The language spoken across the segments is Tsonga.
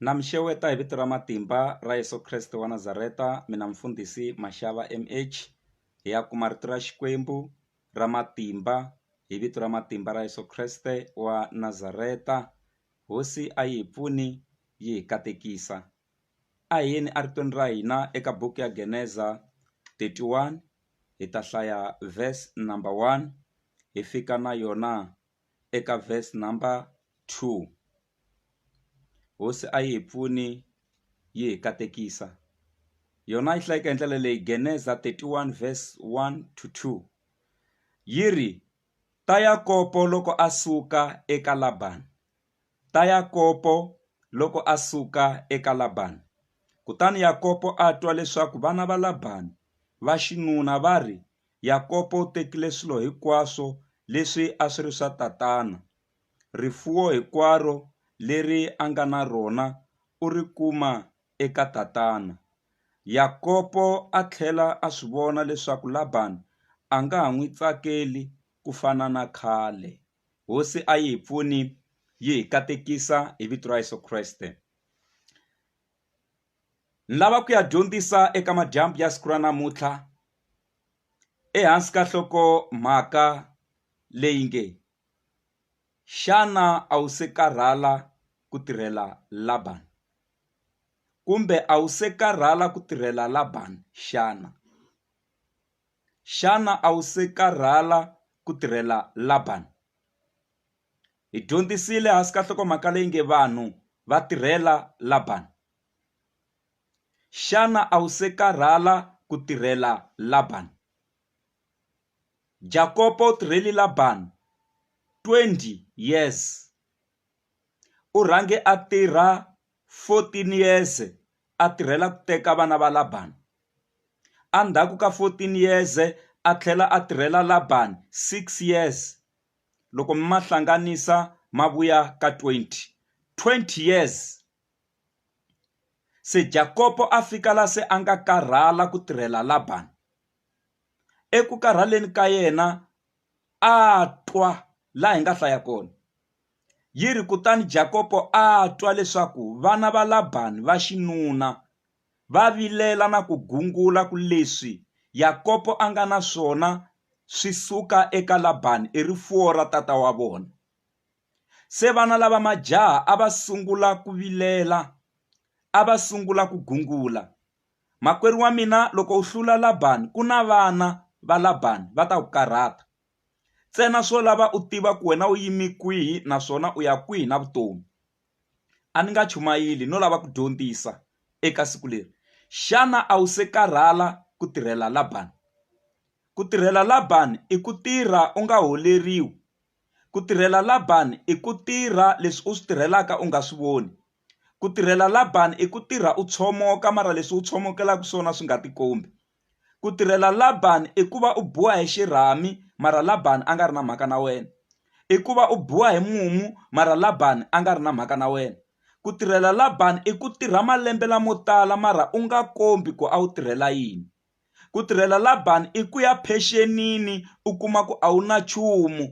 Na mi xeweta hi vito ra matimba ra Yeso Kreste wa Nazareta mina mfundhisi Mashava M_H hi ya kuma rito ra Xikwembu ra matimba hi vito ra matimba ra Yeso Kreste wa Nazareta hosi a yi hi pfuni yi hi katekisa a hi yeni a ritweni ra hina eka buku ya geneza thirty one hi ta hlaya verse number one hi fika na yona. eka verse number two hosi a yi hi pfuni yi hi katekisa yona a yi hlayeke hi ndlela leyi geneza thirty one verse one to two yi ri ta Yakopo loko a suka eka Laban ta Yakopo loko a suka eka Laban kutani Yakopo a twa leswaku vana va Laban va xinuna va ri Yakobo u tekile swilo hinkwaswo leswi a swi ri swa tatana. Rifuwo hinkwaro leri a nga na rona u ri kuma eka tatana. Yakobo a tlhela a swi vona leswaku Labani a nga ha n'wi tsakeli ku fana na khale. Hosi a yi hi pfuni yi hi katekisa hi vito ra Yesu Kreste. ni lava ku ya dyondzisa eka madyambu ya siku ra namuntlha ehansi ka nhloko mhaka leyi nge xana a wu se karhala ku tirhela Laban kumbe a wu se karhala ku tirhela Laban xana xana a wu se karhala ku tirhela Laban Hi dyondzisile hansi ka nhlokomhaka leyi nge Vanhu Va Tirhela Labani. Xana a wu se karhala ku tirhela Labani? Jakopo u tirheli Labani 20 years. U rhange a tirha 14 years a tirhela ku teka vana va Labani. Endzhaku ka 14 years a tlhela a tirhela Labani six years. loko mi ma hlanganisa ma vuya ka 20 20 years se Jakopo a fika la se a nga karhala ku tirhela Laban eku karhaleni ka yena a twa la hi nga hlaya kona yi ri kutani Jakopo a twa leswaku vana va Laban va xinuna va vilela na ku gungula ku leswi Yakobo a nga na swona swi suka eka Labani i rifuwo ra tata wa vona. Se vana lava majaha a va sungula ku vilela, a va sungula ku gungula, Makwerhu wa mina, loko u hlula Labani, ku na vana va Labani va ta ku karhata. Ntsena swo lava u tiva ku wena u yime kwihi naswona u ya kwihi na vutomi. a ni nga chumayeli no lava ku dyondzisa eka siku leri. Xana a wu se karhala ku tirhela Labani? Ku tirhela Labani i ku tirha u nga holeriwi. Ku tirhela Labani i ku tirha leswi u swi tirhelaka u nga swi voni. Ku tirhela Labani i ku tirha u tshomoka mara leswi u tshomokelaka swona swi nga tikombi. ku tirhela Laban i ku va u biwa hi xirhami mara Laban a nga ri na mhaka na wena i ku va u biwa hi mumu mara Laban a nga ri na mhaka na wena ku tirhela Laban i ku tirha malembe lamo tala mara u nga kombi ku a wu tirhela yini ku tirhela Laban i ku ya phenxenini u kuma ku a wu na nchumu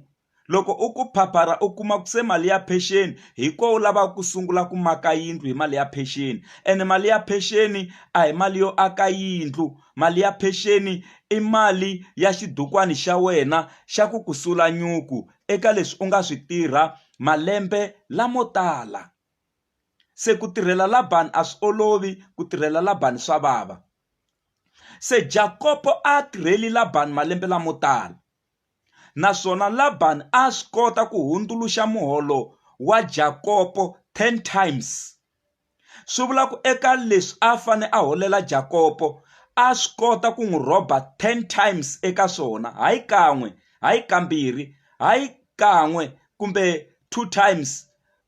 loko u ku phapharha u kuma ku se mali ya pension hi ko u lavaka ku sungula ku maka yindlu hi mali ya pension and mali ya pension a hi mali yo aka yindlu mali ya pension i mali ya xibukwani xa wena xa ku ku sula nyuku eka leswi u nga swi tirha malembe lamo tala se ku tirhela la bangi a swi olovi ku tirhela la bangi swa vava se Jakopo a tirheli la bangi malembe lamo tala naswona Laban a a swi kota ku hundzuluxa muholo wa Jakopo 10 times. Swi vula ku eka leswi a fane a holela Jakopo a swi kota ku n'wi rhoba 10 times eka swona, hayi kan'we, hayi kambirhi, hayi kan'we kumbe two times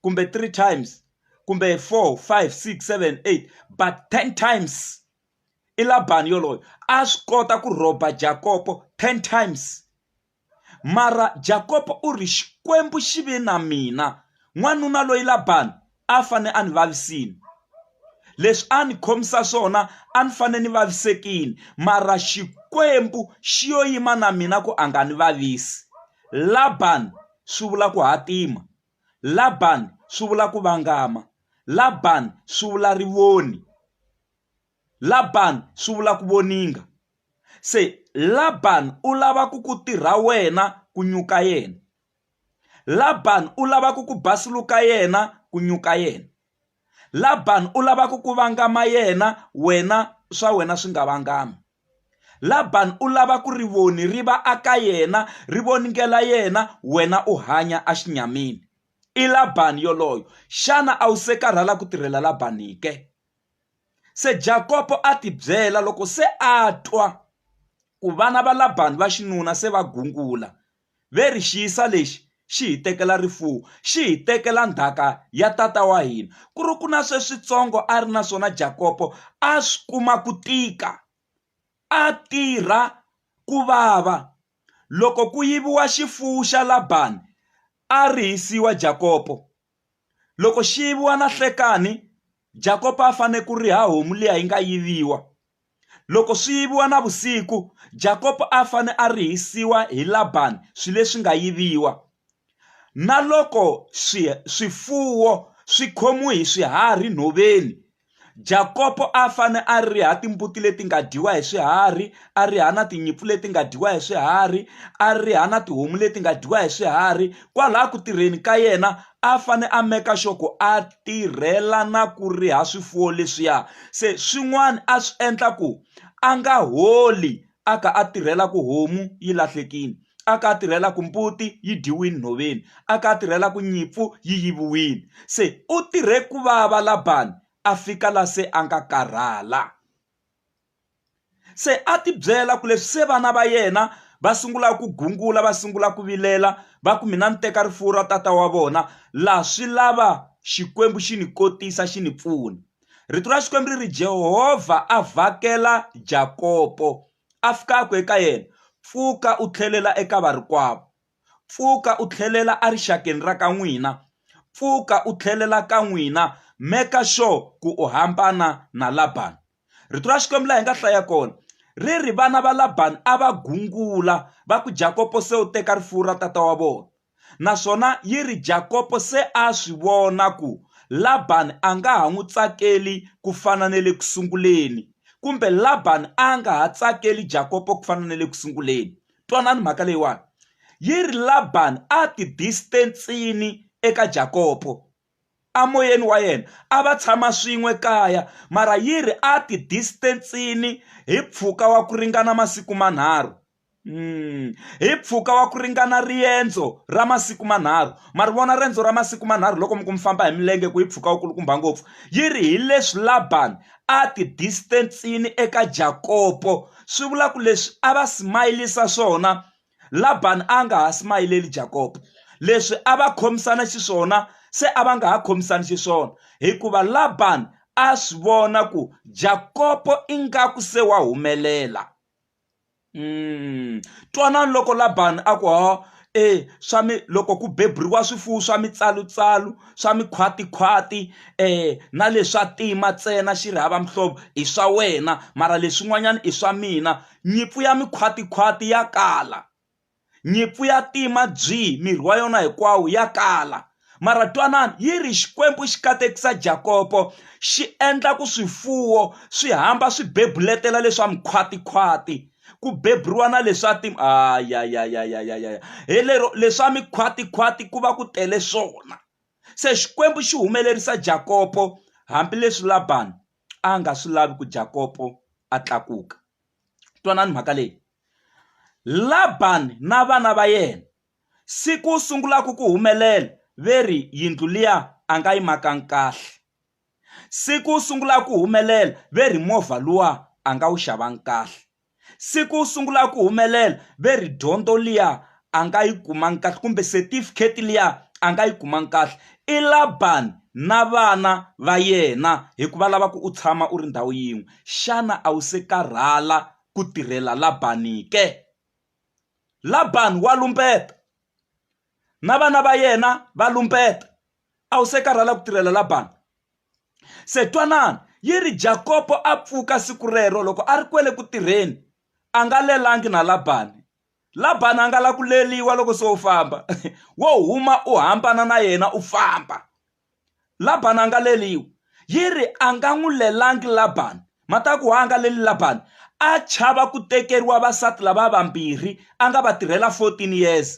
kumbe three times kumbe four, five, six, seven, eight but 10 times. i Labani yoloye a swi kota ku rhoba Jakopo 10 times mara Jakopo u ri xikwembu xi ve na mina n'wanuna loyi Labani a fane a ni vavisini leswi a ni khomisa swona a ni fane ni vavisekini mara xikwembu xi yo yima na mina ku a nga ni vavisi Labani swi vula ku hatima Labani swi vula ku vangama Labani swi vula rivoni Laban swi vula ku voninga. Se Laban u lava ku ku tirha wena ku nyuka yena. Laban u lava ku ku basuluka yena ku nyuka yena. Laban u lava ku ku vangama yena wena swa wena swi nga vangami. Laban u lava ku rivoni ri va aka yena ri voningela yena wena u hanya a xinyamini. I Laban yoloyo. Xana a wu se karhala ku tirhela Laban ke? Se Jakopo a tibyela, loko se a twa ku vana va Labani va xinuna se va gungula, ve ri, Xiyisa lexi xi hi tekela rifuwo, xi hi tekela ndhaka ya tata wa hina. Ku ri ku na sweswitsongo a ri na swona Jakopo a swi kuma ku tika, a tirha ku vava. Loko ku yiviwa xifuwo xa Labani, a rihisiwa Jakopo. Loko xi yiviwa na hlekani Jakopo a fane ku riha homu liya yi nga yiviwa loko swi yiviwa na vusiku Jakopo a fane a rihisiwa hi Labani swi leswi nga yiviwa na loko swi swifuwo swi khomiwe hi swiharhi nhoveni Jakopo a fane a riha timbuti leti nga dyiwa hi swiharhi a riha na tinyimpfu leti nga dyiwa hi swiharhi a riha na tihomu leti nga dyiwa hi swiharhi kwalaha ku tirheni ka yena a fane a meka sure ku a tirhela na ku riha swifuwo leswiya se swin'wana a swi endla ku a nga holi a kha a tirhela ku homu yi lahlekile a kha a tirhela ku mbuti yi dyiwile nhoveni a kha a tirhela ku nyimpfu yi yiviwile se u tirhe ku vava Laban a fika la se a nga karhala se a ti byela ku leswi se vana va yena va sungula ku gungula va sungula ku vilela va ku mina ni teka rifuwo ra tata wa vona laha swi lava xikwembu xi ni kotisa xi ni pfuna rito ra xikwembu ri ri jehovha a vhakela jakopo a fika a ku eka yena pfuka u tlhelela eka varikwavo pfuka u tlhelela erixakeni ra ka n'wina pfuka u tlhelela ka n'wina meka sure ku u hambana na labani rito ra xikwembu laha hi nga hlaya kona ri ri vana va labani a va gungula va ku jakopo se u teka rifuwo ra tata wa vona naswona yi ri, Jakopo se a swi vona ku Labani a nga ha n'wi tsakeli ku fana na le ku sunguleni, kumbe Labani a nga ha tsakeli Jakopo ku fana na le ku sunguleni. Twanani mhaka leyiwani, yi ri Labani a ti-distance-ini eka Jakopo. emoyeni wa yena a va tshama swin'we kaya mara yi ri a ti distance-ini hi mpfhuka wa ku ringana masiku manharhu hi mpfhuka wa ku ringana riendzo ra masiku manharhu ma ri vona riendzo ra masiku manharhu loko mi ku mi famba hi milenge ku yi mpfhuka wu kulukumba ngopfu yi ri hi leswi Laban a ti distance-ini eka Jakopo swi vula ku leswi a va smile-isa swona Labani a nga ha smayileli Jakobo leswi a va khomisana xiswona se a va nga ha khomisani xiswona hikuva Labani a swi vona ku Jakobo ingaku se wa humelela mm. twanani loko Labani a ku ho e swa mi loko ku beburiwa swifuwo swa mitsalutsalu swa mikhwatikhwati eh na leswa tima ntsena xi ri hava mihlovo i swa wena mara leswin'wanyana i swa mina Nyimpfu ya mikhwatikhwati ya kala. Nyimpfu ya tima byi, miri wa yona hinkwawo, ya kala. Mara twanani, yi ri, Xikwembu xi katekisa Jakopo, xi endla ku swifuwo swi hamba swi bebuletela leswa mikhwatikhwati, ku beburiwa na leswa ti ayayayayayaya hi lero leswa mikhwatikhwati ku va ku tele swona. Se Xikwembu xi humelerisa Jakopo hambileswi Labani a nga swi lavi ku Jakopo a tlakuka. Twanani mhaka leyi. Labani na vana va yena siku sungulaka ku humelela ve ri yindlu liya a nga yi makanga kahle. Siku sungulaka ku humelela ve ri movha luwa a nga wu xavanga kahle. siku u sungula ku humelela ve ri dyondzo liya a nga yi kumanga kahle kumbe setifikheti liya a nga yi kumanga kahle i Laban na vana va yena hikuva lava ku u tshama u ri ndhawu yin'we xana a wu se karhala ku tirhela Laban ke Laban wa lumbeta na vana va yena va lumbeta. a wu se karhala ku tirhela Labani? Se twanani, yi ri Jakopo a pfuka siku rero loko a ri kwele ku tirheni a nga lelangi na Labani. Labani a nga la ku leliwa loko se u famba wo huma u hambana na yena u famba. Labani a nga leliwa yi ri a nga n'wi lelangi Labani mataku wa a nga leli Labani a chava ku tekeriwa vasati lava vambirhi a nga va tirhela 14 years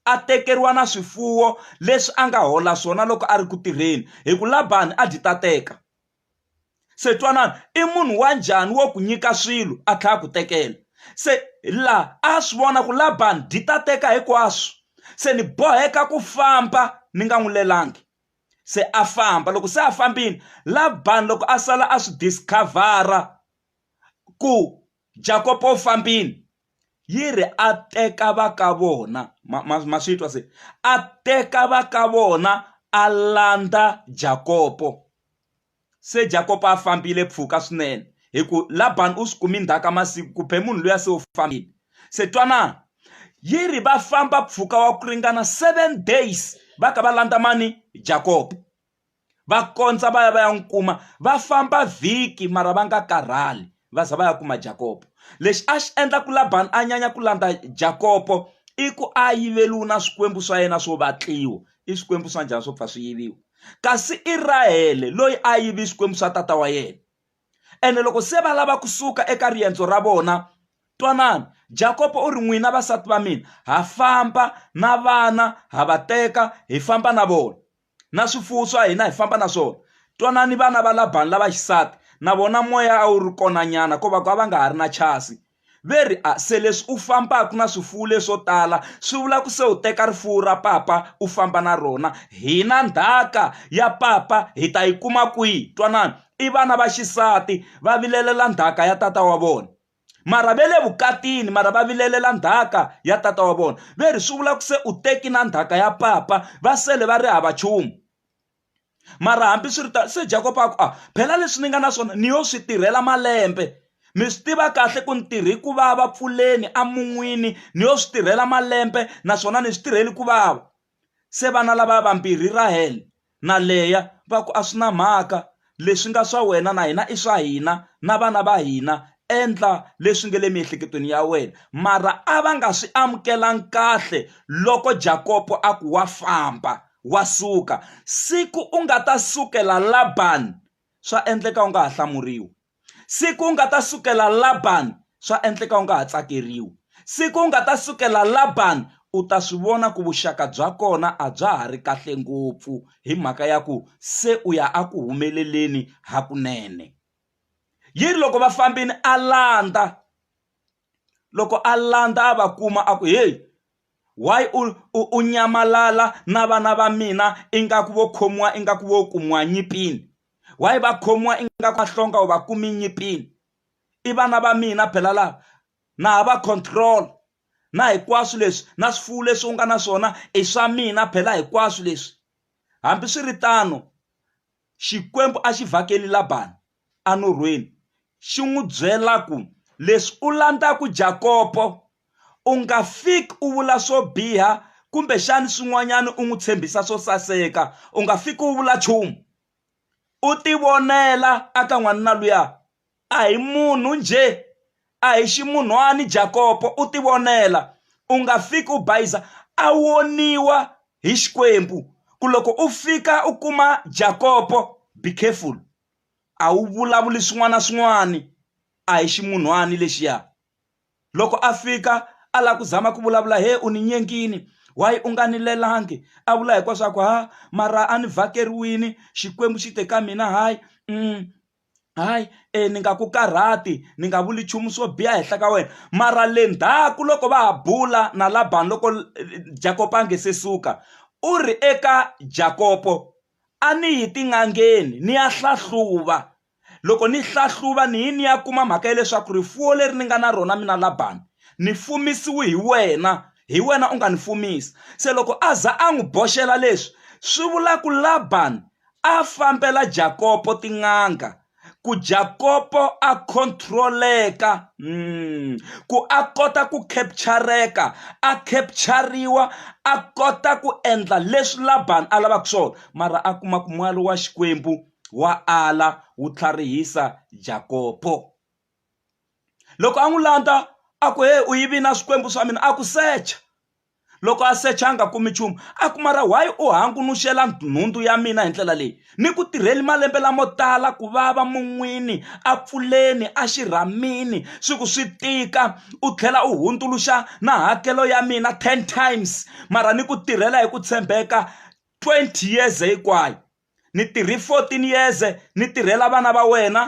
a tekeriwa na swifuwo leswi a nga hola swona loko a ri ku tirheni hi ku labani a dyi ta teka se twanana i munhu wa njhani wo ku nyika swilo a tlhela a ku tekela se laha a swi vona ku labani dyi ta teka hinkwaswo se ni boheka ku famba ni nga n'wi lelangi se a famba loko se a fambile labani loko a sala a swi discover-a ku Jakopo fambini yi ri a teka va ka vona ma, ma, ma swi twa se a teka va ka vona a landza Jakopo se Jakopo a fambile pfuka swinene hi ku Labani u swi kumi ndzhaka masiku ku be munhu luya se u fambile se twanana yi ri va famba pfuka wa ku ringana seven days va ka va landza mani Jakopo va kondza va ya va ya n'wi kuma va famba vhiki mara va nga karhali va za va ya kuma jakopo lexi a xi endla ku labani a nyanya ku landza jakopo i ku a yiveliwi na swikwembu swa yena swo vatliwa i swikwembu swa njhani swo pfa swi yiviwa kasi i rahele loyi a yivi swikwembu swa tata wa yena ene loko se va lava kusuka eka riendzo ra vona twanani jakopo u ri n'wina vasati va mina ha famba na vana ha va teka hi famba na vona na swifuwo swa hina hi famba na swona twanani vana va labani lava xisati na vona moya a wu ri kona nyana ko va ku a va nga ha ri na chasi ve ri a se leswi u fambaka na swifuwo leswo tala swi vula ku se u teka rifuwo ra papa u famba na rona hina ndhaka ya papa hi ta yi kuma kwihi twanani i vana va xisati va vilelela ndhaka ya tata wa vona mara va le vukatini mara va vilelela ndzhaka ya tata wa vona ve ri swi vula ku se u teki na ndzhaka ya papa va sele va ri hava nchumu mara hambi swi ri ta se jakob a ku a ah, phela leswi ni nga na swona ni yo swi tirhela malembe mi swi tiva kahle ku ni tirhi ku vava pfuleni a mun'wini ni yo swi tirhela malembe naswona ni swi tirheli ku vava Se vana lavaya vambirhi Rahele na Leya va ku, A swi na mhaka, leswi nga swa wena na hina i swa hina na vana va hina, endla leswi nge le miehleketweni ya wena. Mara a va nga swi amukelanga kahle loko Jakopo a ku, Wa famba, wa suka. Siku u nga ta sukela Labani, swa endleka u nga ha hlamuriwi. siku u nga ta sukela la ban swa endleka u nga ha tsakeriwi siku u nga ta sukela la ban u ta swi vona ku vuxaka bya kona a bya ha ri kahle ngopfu hi mhaka ya ku se u ya a ku humeleleni hakunene yi ri loko va fambini a landza loko a landza a va kuma a ku heyi why u u u nyamalala na vana va mina ingaku vo khomiwa ingaku vo kumiwa nyipini why va khomiwa ingaku mahlonga u va kumi nyipini i vana va mina phela lava na ha va control na hinkwaswo leswi na swifuwo leswi u nga na swona i swa mina phela hinkwaswo leswi hambiswiritano xikwembu a xi vhakeli Laban enurhweni, xi n'wi byela ku, Leswi u landzaka Jakobo, u nga fiki u vula swo biha kumbexana swin'wanyana u n'wi tshembisa swo saseka, u nga fiki u vula nchumu. U tivonela eka n'wanuna luya, a hi munhu njhe, a hi ximunhwana Jakobo, u tivonela. U nga fiki u bayiza, a voniwa hi Xikwembu ku loko u fika u kuma Jakobo be careful. a wu vulavuli swin'wana na swin'wana a hi ximunhwana lexiya loko a fika a lava ku zama ku vulavula he u ni nyengini why u nga ni lelangi a vula hinkwaswo swa ku ha mara a ni vhakeriwile xikwembu xi te ka mina hayi hayi e ni nga ku karhati ni nga vuli nchumu swo biha henhla ka wena mara le ndzhaku loko va ha bula na Laban loko Jakopo a nga se suka u ri eka Jakopo. a ni yi tin'angeni ni ya hlahluva loko ni hlahluva ni yi ni ya kuma mhaka ya leswaku rifuwo leri ni nga na rona mina Laban ni fumisiwe hi wena hi wena u nga ni fumisa se loko a za a n'wi boxela leswi swi vula ku Laban a fambela Jakopo tin'anga ku Jakopo a control-eka, ku a kota ku capture-eka, a capture-riwa, a kota ku endla leswi Laban a lavaka swona, mara a kuma ku n'wana wa Xikwembu wa ala wu tlharihisa Jakopo. Loko a n'wi landza a ku, Heyi u yivile na swikwembu swa mina, a ku secha. loko a secha a nga kumi nchumu a ku mara why u hangunuxela nhundzu ya mina hi ndlela leyi ni ku tirheli malembe lamo tala ku vava mun'wini a pfuleni a xirhamini swi ku swi tika u tlhela u hundzuluxa na hakelo ya mina ten times mara ni ku tirhela hi ku tshembeka twenty years hinkwayo ni tirhe fourteen years ni tirhela vana va wena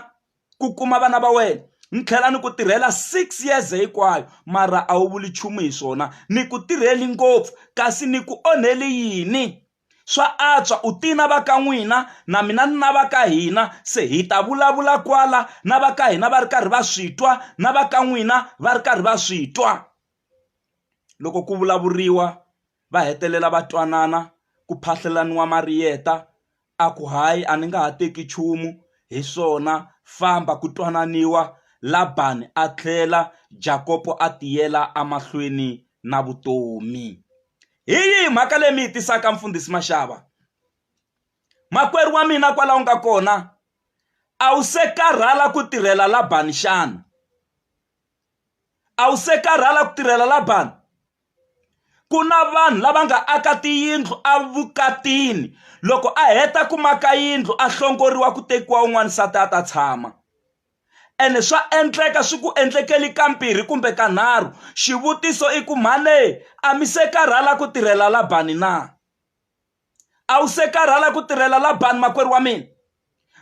ku kuma vana va wena ni tlhela ni ku tirhela six years hinkwayo mara a wu vuli nchumu hi swona ni ku tirheli ngopfu kasi ni ku onhele yini swa antswa u ti na va ka n'wina na mina ni na va ka hina se hi ta vulavula kwala na va ka hina va ri karhi va swi twa na va ka n'wina va ri karhi va swi twa. loko ku vulavuriwa va hetelela va twanana ku phahlelaniwa mariyeta a ku hayi a ni nga ha teki nchumu hi swona famba ku twananiwa Laban a tlhela Jakob a tiyela emahlweni na vutomi. Hi yihi mhaka leyi mi yi tisaka mfundhisi Mashava makwerhu wa mina kwala u nga kona a wu se karhala ku tirhela Laban xana a wu se karhala ku tirhela Labani? Ku na vanhu lava nga aka tiyindlu evukatini, loko a heta ku maka yindlu a hlongoriwa ku tekiwa un'wana nsati a ta tshama. Ene swa endleka swi ku endlekeli ka mbirhi kumbe ka nharhu. Xivutiso i ku mhani a mi se karhala ku tirhela Labani na? a wu se karhala ku tirhela labani makwerhu wa mina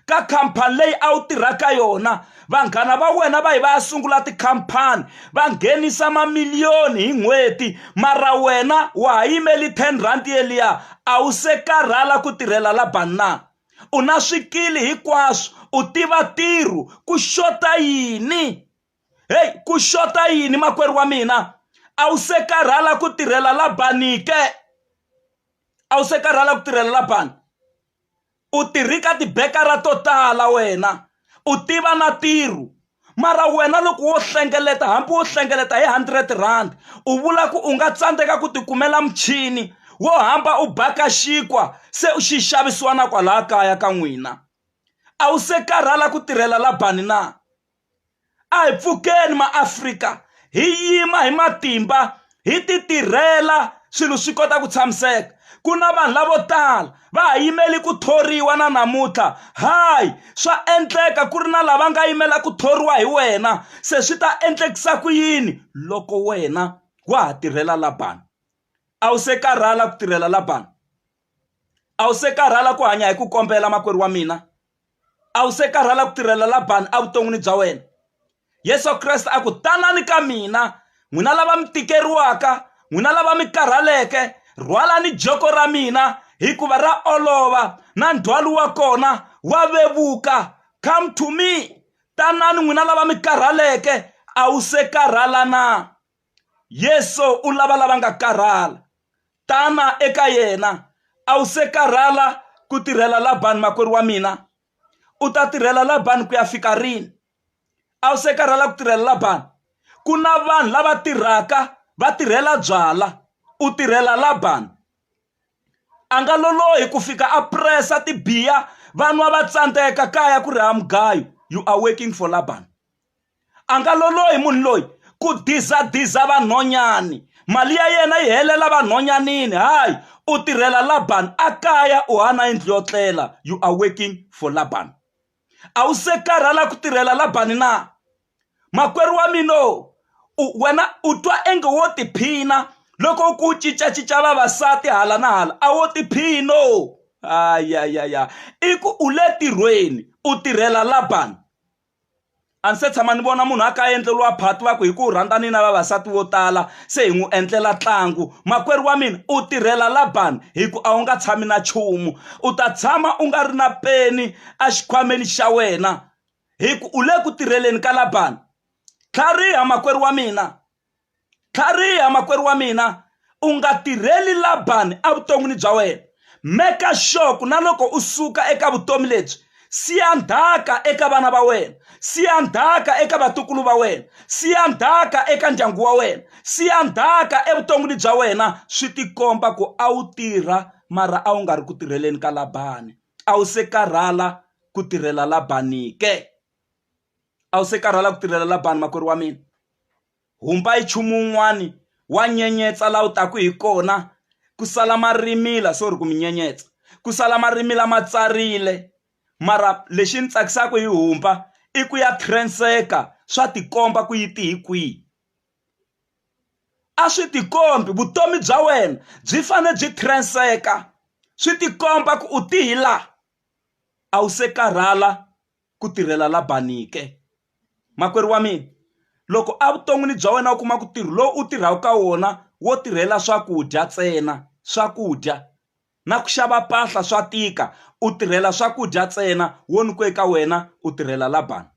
ka khampani leyi a wu tirha ka yona vanghana va wena va yi va ya sungula tikhampani va nghenisa mamiliyoni hi n'hweti mara wena wa ha yimeli ten rand yeliya a wu se karhala ku tirhela labani na u na swikili hinkwaswo u tiva ntirho ku xota yini heyi ku xota yini makwerhu wa mina a wu se karhala ku tirhela labani ke a wu se karhala ku tirhela labani u tirhi ka tibekara to tala wena u tiva na tirhu mara wena loko wo hlengeleta hambi wo hlengeleta hi hundred rand u vula ku u nga tsandzeka ku tikumela muchini wo hamba u baka xinkwa se u xi xavisiwa na kwalaya kaya ka n'wina a wu se karhala ku tirhela labani na a hi pfukeni maAfrika hi yima hi matimba hi ti tirhela swilo swi kota ku tshamiseka ku na vanhu lavo tala va ha yimele ku thoriwa na namuntlha hayi swa endleka ku ri na lava nga yimela ku thoriwa hi wena se swi ta endlekisa ku yini loko wena wa ha tirhela la bangi a wu se karhala ku tirhela la bangi. a wu se karhala ku hanya hi ku kombela makwerhu wa mina a wu se karhala ku tirhela labani evuton'wini bya wena yesu kreste a ku tanani ka mina n'wina lava mi tikeriwaka n'wina lava mi karhaleke rhwalani joko ra mina hikuva ra olova na ndzhwalo wa kona wa vevuka come to me tanani n'wina lava mi karhaleke a wu se karhala na Yesu u lava lava nga karhala. Tana eka yena. A wu se karhala ku tirhela Labani makwerhu wa mina? U ta tirhela Labani ku ya fika rini? A wu se karhala ku tirhela Labani? Ku na vanhu lava tirhaka va tirhela byala, u tirhela Labani. A nga lolohi ku fika a presa tibiya vanwa va tsandzeka kaya ku ri ha mugayo you are working for Labani. a nga lolohi munhu loyi ku dizadiza vanhonyani mali ya yena yi helela vanhonyanini hayi u tirhela laban a kaya u hana yindlu yo tlela you are working for laban a wu se karhala ku tirhela labani na makwerhu wa mina wena u twa enge wo tiphina loko ku cincacinca vavasati hala na hala a wo tiphina o a ya ya ya i ku u le tirhweni u tirhela laban a ndzi se tshama ni vona munhu a ka a endleriwa phati va ku hi ku rhandza ni na vavasati vo tala se hi n'wi endlela ntlangu makwerhu wa mina u tirhela la ban hi ku a wu nga tshami na nchumu u ta tshama u nga ri na peni a xikhwameni xa wena hi ku u le ku tirheleni ka la ban tlhariha makwerhu wa mina. Tlhariha, makwerhu wa mina, u nga tirheli Labani evuton'wini bya wena. Meka sure ku na loko u suka eka vutomi lebyi, siya ndhaka eka vana va wena, siya ndhaka eka vatukulu va wena, siya ndhaka eka ndyangu wa wena, siya ndhaka evuton'wini bya wena, swi tikomba ku a wu tirha mara a wu nga ri ku tirheleni ka Labani. A wu se karhala ku tirhela Labani ke? a wu se karhala ku tirhela la bangi makwerhu wa mina humba hi nchumu wun'wani wa nyenyetsa laha wu taka hi kona ku sala marimila sorry ku mi nyenyetsa ku sala marimila ma tsarile mara lexi ni tsakisaka hi humba i ku ya transfer-ka swa tikomba ku yi te hi kwihi a swi tikombi vutomi bya wena byi fanele byi transfer-ka swi tikomba ku u te hi laha a wu se karhala. ku tirhela Labani ke? Makwerhu wa mina, loko evuton'wini bya wena u kuma ku ntirho lowu u tirhaka ka wona wo tirhela swakudya ntsena swakudya na ku xava mpahla swa tika u tirhela swakudya ntsena wo nyikiwe ka wena u tirhela Labani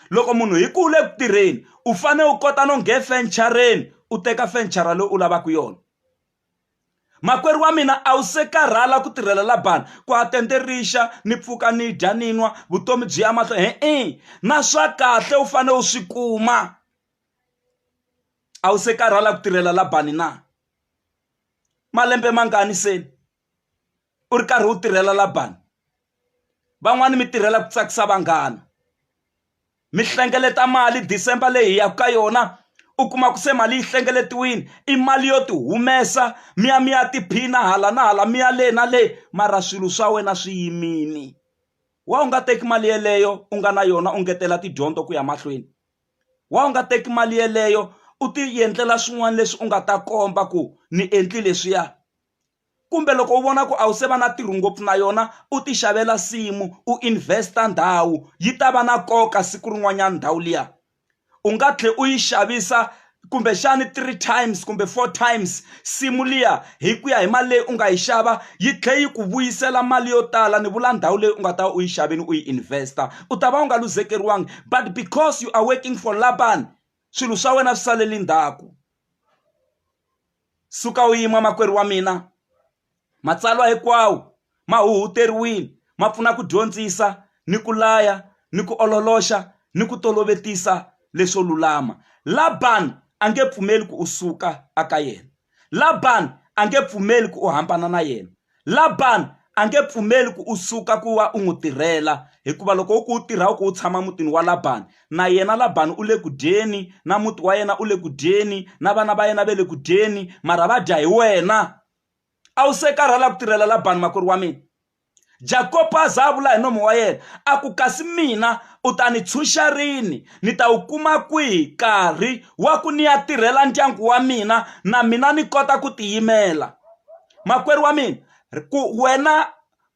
loko munhu hi ku u le ku tirheni u fanele u kota no nghe fenichara u teka fenichara leyi u lavaka yona makwerhu wa mina a wu se karhala ku tirhela labani ku a tende rixa ni pfuka ni dya ni nwa vutomi byi ya mahlo he-e na swa kahle u fanele u swi kuma a wu se karhala ku tirhela labani na malembe mangani seni u ri karhi u tirhela labani van'wani mi tirhela ku tsakisa vanghana mi hlengeleta mali December leyi hi yaka ka yona u kuma ku se mali yi hlengeletiwile i mali yo ti humesa mi ya mi ya tiphina hala na hala mi ya le na le mara swilo swa wena swi yimile wa u nga teki mali yeleyo u nga na yona u ngetela tidyondzo ku ya mahlweni wa u nga teki mali yeleyo u ti endlela swin'wana leswi u nga ta komba ku ni endli leswiya kumbe loko u vona ku a wu se va na ntirho ngopfu na yona u ti xavela nsimu u invest-a ndhawu yi ta va na nkoka siku rin'wanyana ndhawu liya u nga tlhela u yi xavisa kumbexani three times kumbe four times nsimu liya hi ku ya hi mali leyi u nga yi xava yi tlhela yi ku vuyisela mali yo tala ni vula ndhawu leyi u nga ta va u yi xavini u yi invest-a u ta va u nga luzekeriwangi but because you are working for Laban swilo swa wena swi salele ndzhaku. Suka u yima, makwerhu wa mina. Matsalwa hinkwawo ma huhuteriwile, ma pfuna ku dyondzisa, ni ku laya, ni ku ololoxa, ni ku tolovetisa leswo lulama. Laban a nge pfumeli ku u suka aka yena. Laban a nge pfumeli ku u hambana na yena. Labani a nge pfumeli ku u suka ku va u n'wi tirhela, hikuva loko u ku u tirha u ku u tshama mutini wa Labani, na yena Labani u le ku dyeni, na muti wa yena u le ku dyeni, na vana va yena va le ku dyeni, mara va dya hi wena. A wu se karhala ku tirhela Labani makwerhu wa mina? Jakopo a za a vula hi nomo wa yena a ku, Kasi mina u ta ni tshunxa rini? Ni ta wu kuma kwihi nkarhi wa ku ni ya tirhela ndyangu wa mina na mina ni kota ku tiyimela? makwerhu wa mina ku wena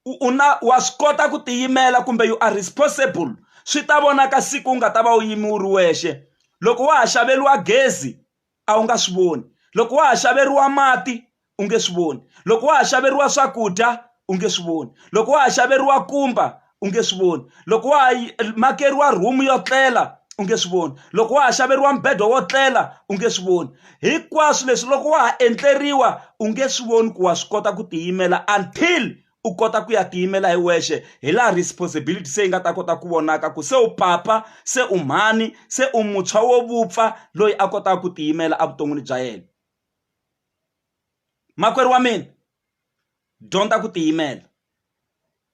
u na wa swi kota ku tiyimela kumbe you are responsible swi ta vonaka siku u nga ta va u yimi u ri wexe loko wa ha xaveriwa gezi a wu nga swi voni loko wa ha xaveriwa mati u nge swi voni loko wa ha xaveriwa swakudya u nge swi voni loko wa ha xaveriwa kumba u nge swi voni loko wa ha makeriwa room yo tlela u nge swi voni loko wa ha xaveriwa mbedo wo tlela u nge swi voni hinkwaswo leswi loko wa ha endleriwa u nge swi voni ku wa swi kota ku tiyimela until u kota ku ya tiyimela hi wexe hi laha responsibility se yi nga ta kota ku vonaka ku se u papa se u mhani se u muntshwa wo vupfa loyi a kotaka ku tiyimela evuton'wini bya yena makwerhu wa mina dyondza ku tiyimela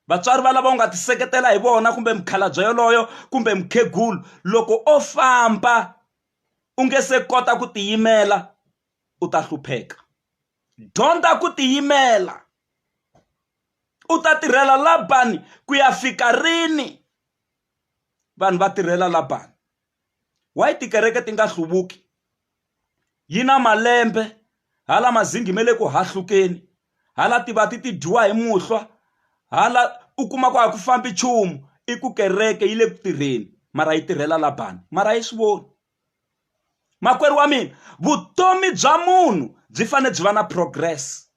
vatswari va lava u nga ti seketela hi vona kumbe mukhalabye yoloyo kumbe mukhegulu loko o famba u nge se kota ku tiyimela u ta hlupheka dyondza ku tiyimela u ta tirhela labani ku ya fika rini vanhu va tirhela labani why tikereke ti nga hluvuki yi na malembe hala mazingi ma le ku hahlukeni hala tivati ti dyiwa hi muhlwa hala u kuma ku a ku fambi nchumu i ku kereke yi le ku tirheni mara yi tirhela la bangi mara a yi swi voni makwerhu wa mina vutomi bya munhu byi fanele byi va na progress.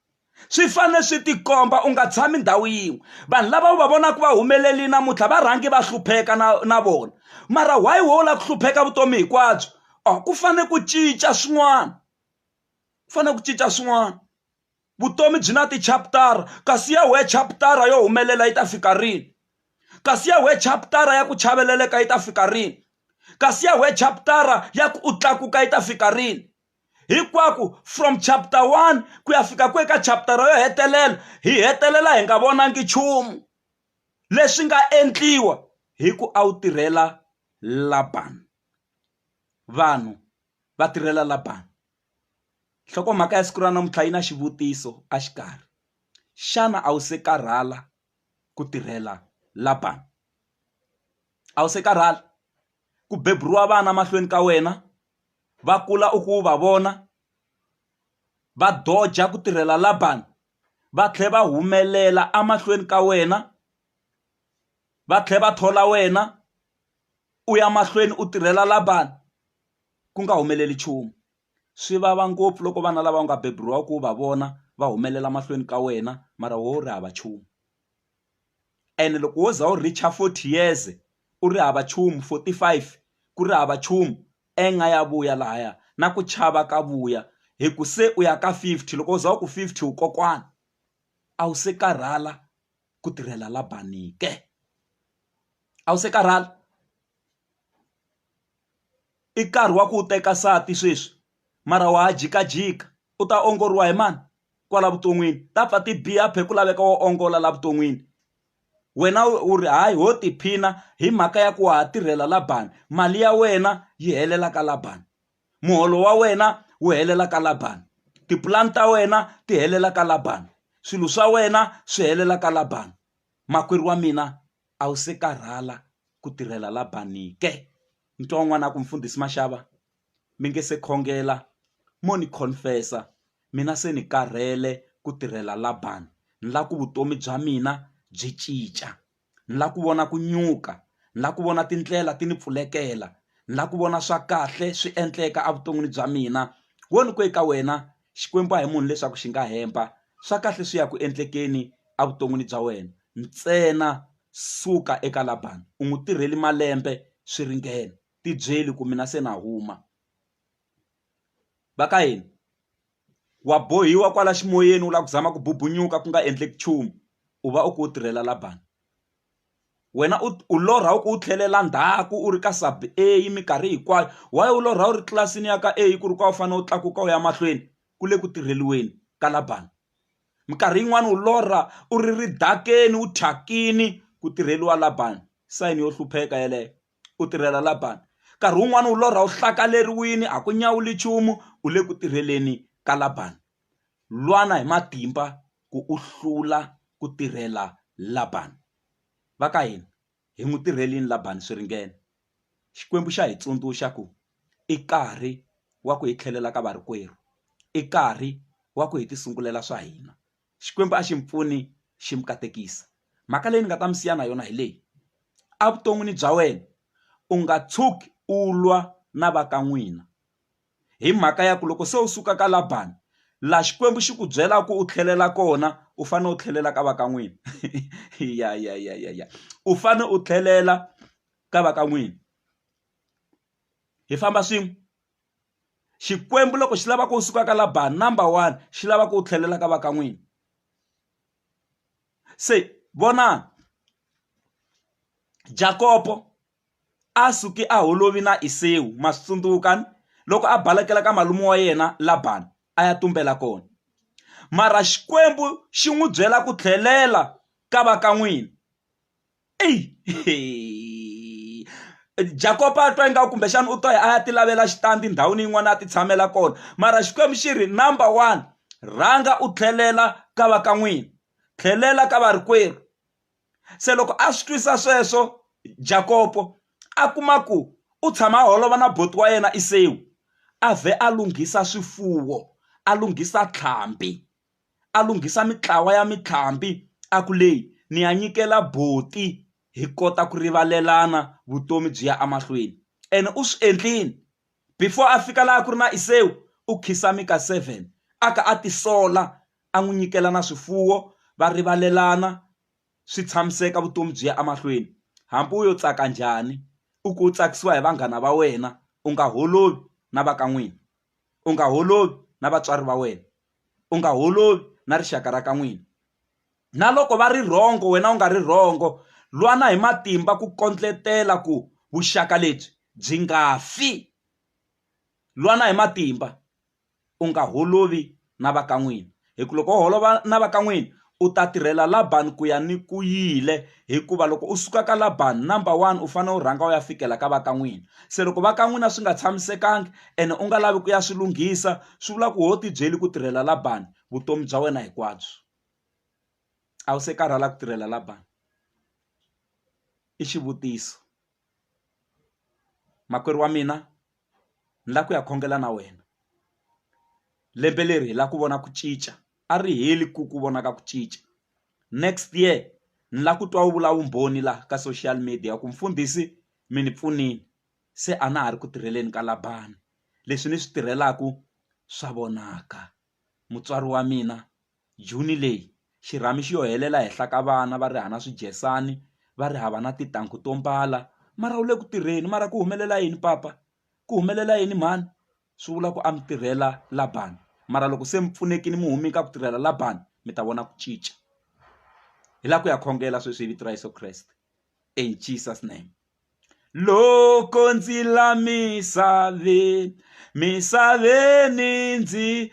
swi fanele swi tikomba u nga tshami ndhawu yin'we vanhu lava u va vonaka va humelerile namuntlha va rhangi va hlupheka na na vona mara why wo lava ku hlupheka vutomi hinkwabyo oh ku fanele ku cinca swin'wana ku fanele ku cinca swin'wana vutomi byi na ti-chapter-a kasi ya wehe chapter-a yo humelela yi ta fika rini kasi ya wehe chapter-a ya ku chaveleleka yi ta fika rini kasi ya wehe chapter-a ya ku u tlakuka yi ta fika rini hinkwako from chapter one ku ya fika ku eka chapter yo hetelela hi hetelela hi nga vonangi nchumu leswi nga endliwa hi ku a wu tirhela labani vanhu va tirhela labani nhlokomhaka ya siku ra namuntlha yi na xivutiso a xikarhi xana a wu se karhala ku tirhela labani a wu se karhala ku beburiwa vana mahlweni ka wena va kula u ku va vona va doja ku tirhela Laban va tlhela va humelela emahlweni ka wena va tlhela va thola wena u ya mahlweni u tirhela Laban ku nga humeleli nchumu swi vava ngopfu loko vana lava nga beburiwa ku va vona va humelela mahlweni ka wena mara wo ri hava nchumu. ene loko wo za u reach-a forty years u ri hava nchumu forty five ku ri hava nchumu anger ya vuya lahaya na ku chava ka vuya hi ku se u ya ka fifty loko u za u ku fifty u kokwana a wu se karhala ku tirhela la bangi ke a wu se karhala i nkarhi wa ku u teka nsati sweswi. mara wa ha jikajika u ta ongoriwa hi mani kwala vuton'wini ta pfa ti biha phe ku laveka wo ongola la vuton'wini wena u ri hayi ho tiphina hi mhaka ya ku wa ha tirhela labani mali ya wena yi helela ka labani muholo wa wena wu helela ka labani tipulani ta wena ti helela ka labani swilo swa wena swi helela ka labani makwerhu wa mina a wu se karhala ku tirhela labani ke ni twa un'wana a ku mfundhisi maxava. mi nge se khongela mo ni confess-a mina se ni karhele ku tirhela Laban ni lava ku vutomi bya mina byi cinca ni lava ku vona ku nyuka ni lava ku vona tindlela ti ni pfulekela ni lava ku vona swa kahle swi endleka evuton'wini bya mina wo ni ku eka wena Xikwembu a hi munhu leswaku xi nga hemba swa kahle swi ya ku endlekeni evuton'wini bya wena ntsena suka eka Laban u n'wi tirheli malembe swi ringene. tibyeli ku mina se na huma va ka hina wa bohiwa kwala ximoyeni u lava ku zama ku bubunyuka ku nga endleki nchumu u va u ku u tirhela la bangi wena u u lorha u ku u tlhelela ndzhaku u ri ka sub a minkarhi hinkwayo why u lorha u ri tlilasini ya ka a ku ri ka u fanele u tlakuka u ya mahlweni ku le ku tirheliweni ka la bangi minkarhi yin'wani u lorha u ri ri dakeni u thyakini ku tirheliwa la bangi sign yo hlupheka yeleyo. u tirhela Labani. Nkarhi wun'wana u lorha u hlakaleriwile, a ku nyawuli nchumu, u le ku tirheleni ka Labani. Lwana hi matimba ku u hlula ku tirhela Labani. Va ka hina, hi n'wi tirhele yini Labani swi ringene? Xikwembu xa hi tsundzuxa ku i nkarhi wa ku hi tlhelela ka varikwerhu, i nkarhi wa ku hi tisungulela swa hina. Xikwembu a xi n'wi pfuni xi n'wi katekisa mhaka leyi ni nga ta mi siya na yona hi leyi a vuton'wini bya wena u nga tshuki u lwa na va ka n'wina hi mhaka ya ku loko se u suka ka Labani laha Xikwembu xi ku byela ku u tlhelela kona u fanele u tlhelela ka va ka n'wina ya ya ya ya ya u fanele u tlhelela ka va ka n'wina hi famba swin'we. xikwembu loko xi lava ku u suka ka laban number one xi lava ku u tlhelela ka va ka n'wini se vonani jakopo a suki a holovi na isewu ma swi tsundzuka ni loko a balekela ka malume wa yena laban a ya tumbela kona mara xikwembu xi n'wi byela ku tlhelela ka va ka n'wini eyi Jakob a twa ingaku kumbexana u twa a ya ti lavela xitandi ndhawini yin'wana a ti tshamela kona mara xikwembu xi ri number one rhanga u tlhelela ka va ka n'wina tlhelela ka varikwerhu se loko a swi twisa sweswo Jakopo a kuma ku u tshama a holova na boti wa yena Isewu a vhe a lunghisa swifuwo a lunghisa tlhambi a lunghisa mintlawa ya mitlhambi a ku leyi ni ya nyikela buti hi kota ku rivalelana vutomi byi ya emahlweni ene u swi endlile before a fika laha ku ri na Iseu u khiza mika seven a ka a tisola a n'wi nyikela na swifuwo va rivalelana swi tshamiseka vutomi byi ya emahlweni hambi u yo tsaka njhani i ku u tsakisiwa hi vanghana va wena u nga holovi na va ka n'wina u nga holovi na vatswari va wena. u nga holovi na rixaka ra ka n'wina. Na loko va ri wrong wena u nga ri wrong, lwana hi matimba ku kondletela ku vuxaka lebyi byi nga fi. Lwana hi matimba u nga holovi na va ka n'wina, hi ku loko wo holova na va ka n'wina u ta tirhela Laban ku ya ni ku yile hikuva loko u suka ka Laban number one u fanele u rhanga u ya fikela ka va ka n'wina se loko va ka n'wina swi nga tshamisekanga ene u nga lavi ku ya swi lunghisa swi vula ku ho ti byeli ku tirhela Laban vutomi bya wena hinkwabyo a wu se karhala ku tirhela Laban i xivutiso makwerhu wa mina ni la ku ya khongela na wena lembe leri hi la ku vona ku cinca a ri heli ku ku vona ka ku cinca next year ni lava ku twa wu vula vumbhoni laha ka social media ku mfundhisi mi ni pfunile se a na ha ri ku tirheleni ka Laban leswi ni swi tirhelaku swa vonaka mutswari wa mina June leyi xirhami xi yo helela henhla ka vana va ri hava na swidyesani va ri hava na tintangu to mbala mara wu le ku tirheni mara ku humelela yini papa ku humelela yini mhani. swi vula ku a mi tirhela Laban mara loko se mi pfunekile mi hume ka ku tirhela Laban mi ta vona ku cinca hi la ku ya khongela sweswi hi vito ra Yeso Kreste in Jesus name loko ndzi la misaveni misaveni ndzi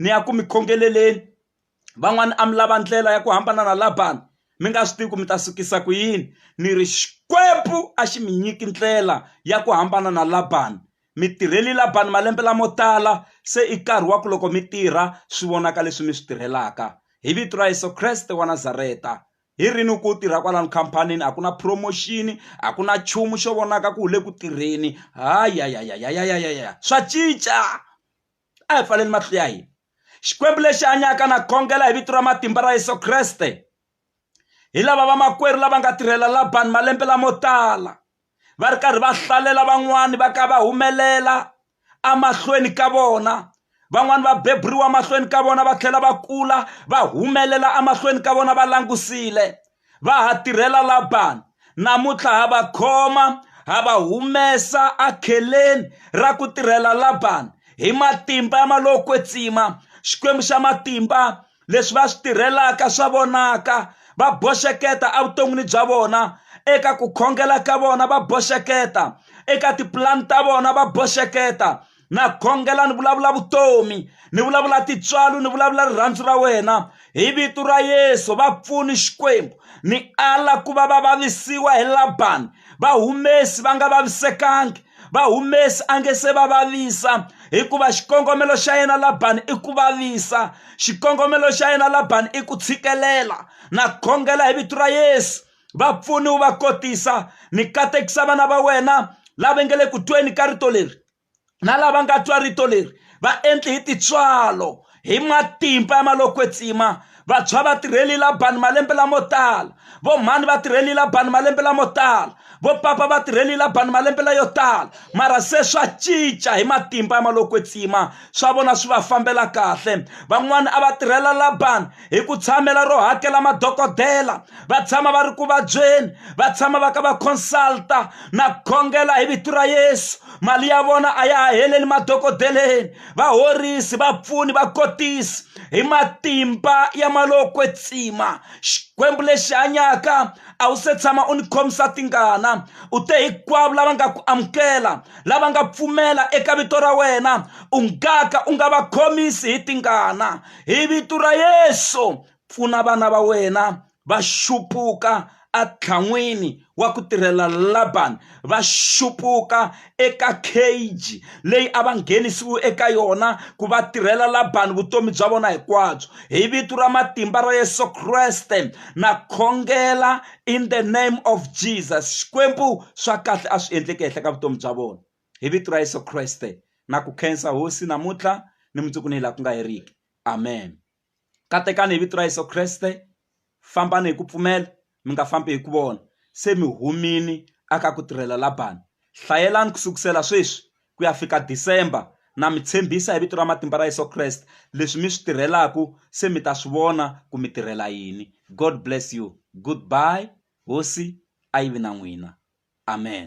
ni ya ku mi khongeleleni van'wani a mi lava ndlela ya ku hambana na Laban mi nga swi tivi ku mi ta sukisa ku yini ni ri Xikwembu a xi mi nyiki ndlela ya ku hambana na Laban mi tirheli Laban malembe lamo tala se i nkarhi wa ku loko mi tirha swi vonaka leswi mi swi tirhelaka hi vito ra Yeso Kreste wa Nazareta hi rini ku tirha kwalano khampanini a ku na promotion a ku na nchumu xo vonaka ku wu le ku tirheni hayayayayayayaya swa cinca. a hi pfaleli matihlo ya hina xikwembu lexi hanyaka na khongela hi vito ra matimba ra yesu kreste hi lava vamakwerhu lava nga tirhela labani malembe lamo tala va ri karhi va hlalela van'wani va ka va humelela emahlweni ka vona van'wani va beburiwa emahlweni ka vona va tlhela va kula va humelela emahlweni ka vona va langusile va ha tirhela Labani. Namuntlha ha va khoma ha va humesa akheleni ra ku tirhela Labani hi matimba ma lo kwetsima xikwembu xa matimba leswi va swi tirhelaka swa vonaka va boxeketa evuton'wini bya vona eka ku khongela ka vona va boxeketa eka tipulani ta vona va boxeketa na khongela ni vulavula vutomi ni vulavula tintswalo ni vulavula rirhandzu ra wena hi vito ra yesu va pfuni xikwembu ni ala ku va va vavisiwa hi labani va humesi va nga vavisekangi va humesi a nge se va vavisa hikuva xikongomelo xa yena labani i ku vavisa xikongomelo xa yena labani i ku tshikelela na khongela hi vito ra yesu vapfuni wu va kotisa ni katekisa vana va wena lava nga le ku tweni ka rito leri na lava nga twa rito leri va endli hi titswalo hi matimba ya malokwetsima vantshwa va tirheli labani malembe lamo tala vo mhani va tirheli labani malembe lamo tala vo papa va tirheli labani malembe layo tala mara se swa cinca hi matimba ya malokwetsima swa vona swi va fambela kahle van'wani a va tirhela labani hi ku tshamela ro hakela madokodela va tshama va ri ku vabyeni va tshama va ka va consulta na khongela hi vito ra yesu mali ya vona a ya ha heleli madokodeleni va horisi va pfuni va kotisi hi matimba ya malokwe tsima xikwembu lexi hanyaka a wu se tshama u ni khomisa tingana u te hinkwavo lava nga ku amukela lava nga pfumela eka vito ra wena u ngaka u nga va khomisi hi tingana hi vito ra yesu pfuna vana va wena va xupuka atlhan'wini wa ku tirhela labani va xupuka eka cage leyi a va nghenisiwi eka yona ku va tirhela labani vutomi bya vona hinkwabyo hi vito ra matimba ra yesu kreste na khongela in the name of jesus xikwembu swa kahle a swi endleke henhla ka vutomi bya vona hi vito ra yesu kreste na ku khensa hosi namuntlha ni mundzuku ni laha ku nga heriki amen katekani hi vito ra yesu kreste fambani hi ku pfumela mi nga fambi hi ku vona se mi humini aka ku tirhela labani hlayelani ku sukusela sweswi ku ya fika december na mi tshembisa hi vito ra matimba ra yesu kreste leswi mi swi tirhelaku se mi ta swi vona ku mi tirhela yini god bless you goodbye hosi a yi vi na n'wina amen.